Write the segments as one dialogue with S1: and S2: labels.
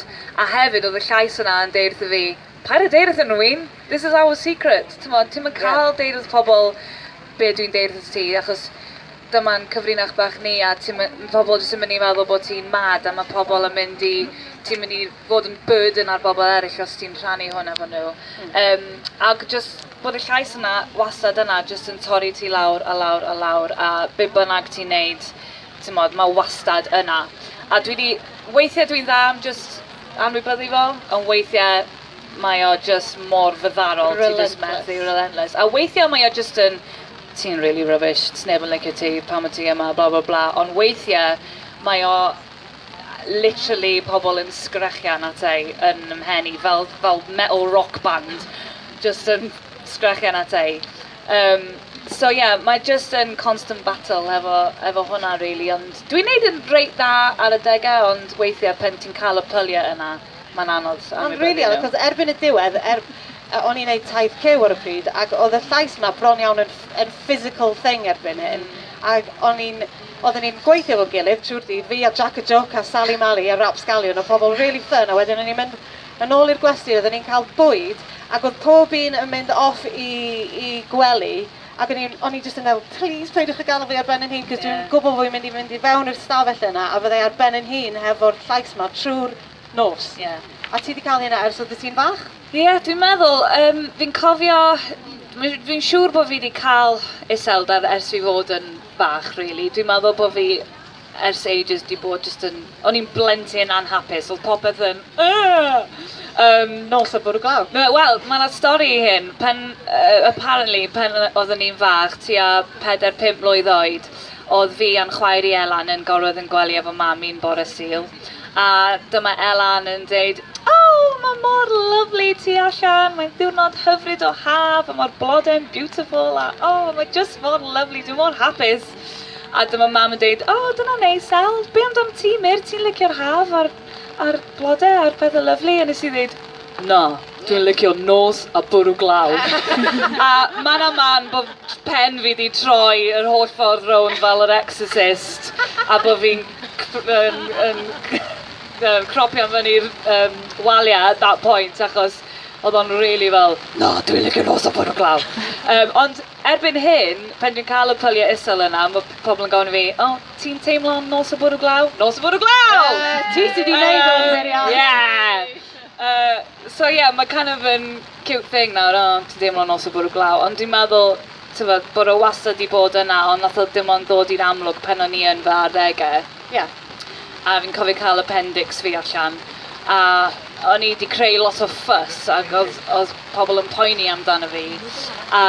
S1: Ond, a hefyd oedd y llais yna yn deud wrtho fi, paid a deud wrthyn nhw Wyn, this is our secret, t'mod, ti'm yn cael deud wrth pobl be dwi'n deud wrthot ti achos dyma'n cyfrinach bach ni a ti'm yn, ma' pobl jyst yn mynd i feddwl bod ti'n mad a ma' pobl yn mynd i, ti'n mynd i fod yn burden ar bobl eraill os ti'n rhannu hwn efo nhw. Yym, ac jyst bod y llais yna wastad yna jyst yn torri ti lawr a lawr a lawr a be bynnag ti'n neud, t'mod ma' wastad yna. A dwi 'di... Weithie dwi'n dda am jyst anwybyddu fo, ond weithie mae o jyst mor fyddarol... Relentless. ...ti jyst methu, relentless. A weithie mae o jyst yn ti'n rili rubbish, sneb yn licio ti, pam wt ti yma, blah blah blah, ond weithie mae o literally pobol yn sgrechian ata i yn 'y mhen i fel fel metal rock band jyst yn sgrechian ata i. Yym, so ie, mae jyst yn constant battle efo, efo hwnna rili, ond dwi'n neud yn reit dda ar adega, ond weithie pen ti'n ca'l y pylie yna, ma'n anodd anwybyddu nhw. Ma'n rili anodd, cos erbyn y diwedd, er, yy o'n i'n neud taith cyw ar y pryd, ag odd y llais 'na bron iawn yn ff- yn physical thing erbyn hyn, ag o'n i'n, odden ni'n gweithio efo'n gilydd trw'r dydd, fi a Jac y Joc a Sali Mali a Rapsgalion, o' pobol rili ffyn, a wedyn o'n i'n mynd, Yn ôl i'r gwesty oedden ni'n cael bwyd ac oedd pob un yn mynd off i i gwely ac o'n i'n o'n i jyst yn meddwl plîs peidiwch a gadael fi ar ben yn hun cos dwi'n gwybod bo' fi'n mynd i fynd i fewn i'r stafell yna a fyddai ar ben yn hun hefo'r llais ma trwy'r nos. Ie. A ti 'di cael hynna ers oeddet ti'n fach? Ie dwi'n meddwl yym fi'n cofio dwi dwi'n siŵr bo' fi 'di cael iselder ers fi fod yn fach rili dwi'n meddwl bo' fi ers ages 'di bod jyst yn... O'n i'n blentyn anhapus, oedd popeth yn Ugh! Yym, nos a bwrw glaw. Na, wel, mae 'na stori i hyn. Pan, yy, apparently, pan oeddwn i'n fach, tua pedair pump mlwydd oed, oedd fi a'n chwaer i Elan yn gorwedd yn gwely efo Mam un bore Sul, a dyma Elan yn deud, O, mae mor lyfli tu allan, mae'n ddiwrnod hyfryd o haf, a mae'r blodau'n beautiful, a, o, mae jyst mor lyfli, dwi mor hapus! A dyma mam yn deud, o, dyna neis, Al, be amdan ti, Mur, ti'n licio'r haf a'r, a'r blode a'r pethau lyflu? A nes i ddeud, na, dwi'n licio nos a bwrw glaw. a man a man bod pen fi di troi yr holl ffordd rownd fel yr exorcist a bod fi'n yn, yn, yn cropio fyny'r um, waliau at that point achos oedd o'n really fel, na, dwi'n licio nos a bwrw glaw. Um, ond Erbyn hyn, pan dwi'n cael y pyliau isel yna, mae pobl yn gofyn i fi, O, ti'n teimlo am nos y bwrw glaw? Nos y bwrw glaw! Yeah! Ti sydd wedi wneud o'n Merian! Yeah! Uh, so yeah, mae kind of yn cute thing nawr, o, ti'n deimlo nos y bwrw glaw. Ond dwi'n meddwl, tyfod, bod o wastad wedi bod yna, ond nath o dim ond ddod i'r amlwg pan o'n i yn fy arddegau. Yeah. A fi'n cofio cael appendix fi allan. A o'n i wedi creu lot o ffys, ac oedd, oedd pobl yn poeni amdano fi a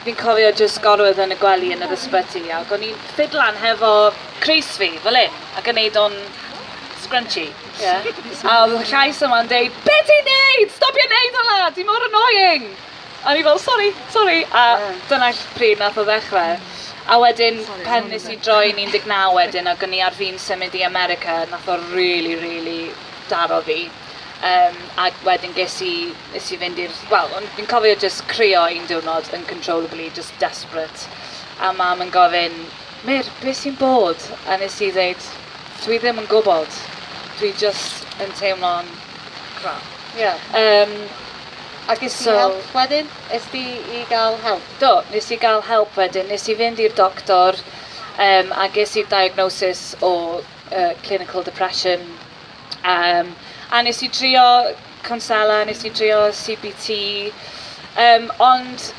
S1: fi'n cofio jyst gorwedd yn y gwely yn yr ysbyty ac o'n i'n ffidlan hefo crys fi fel hyn ac yn neud o'n scrunchy. Yeah. a oedd y llais yma'n deud, be ti'n neud? Stopio neud hwnna! Di mor annoying! A ni fel, sori, sori! A yeah. dyna pryd nath o ddechrau. A wedyn, sorry, pen nes i droi'n 19 wedyn ac o'n i ar fin symud i America, nath o really, really daro fi. Um, ac wedyn ges i, nes i fynd i'r... Wel, fi'n cofio just crio un diwrnod, uncontrollably, just desperate. A mam yn gofyn, Mir, beth sy'n bod? A nes i ddeud, dwi ddim yn gwybod. Dwi just yn teimlo'n crap. Yeah. Um, a ges so, i help wedyn? Nes di i gael help? Do, nes i gael help wedyn. Nes i fynd i'r doctor um, a ges i diagnosis o uh, clinical depression Um, a nes i drio Consella, nes i drio CBT, um, ond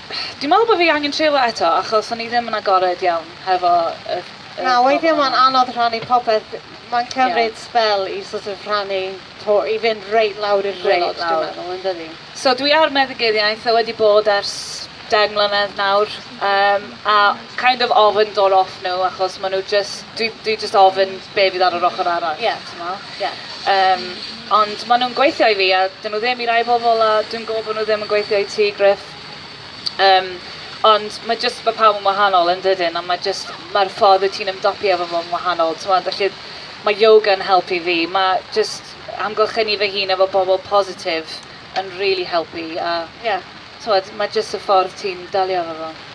S1: dwi'n meddwl bod fi angen trio fo eto, achos o'n i ddim yn agored iawn hefo y... y Na, weithiau mae'n anodd rhannu popeth. Mae'n cymryd yeah. spel i sort of rhannu, to, i fynd reit lawr i'r gwylod, dwi'n meddwl, yn dydi? So dwi ar meddyginiaeth a wedi bod ers deng mlynedd nawr yym a kind of ofyn dod off nhw achos ma' nhw jyst dwi dwi jyst ofyn be' fydd ar yr ochor arall. Ie. T'mo'? Ie. Yym ond ma' nhw'n gweithio i fi a 'dyn nhw ddim i rai bobol a dwi'n gwbo bo' nhw ddim yn gweithio i ti Gruff. Yym ond ma' jyst ma' pawb yn wahanol yndydyn a ma' jyst ma'r ffordd wyt ti'n ymdopi efo fo'n wahanol t'mod felly ma' yoga yn helpu fi ma' jyst amgylchynu fy hun efo bobl positif yn rili helpu a ie, t'mod, mae jyst y ffordd ti'n dalio efo fo.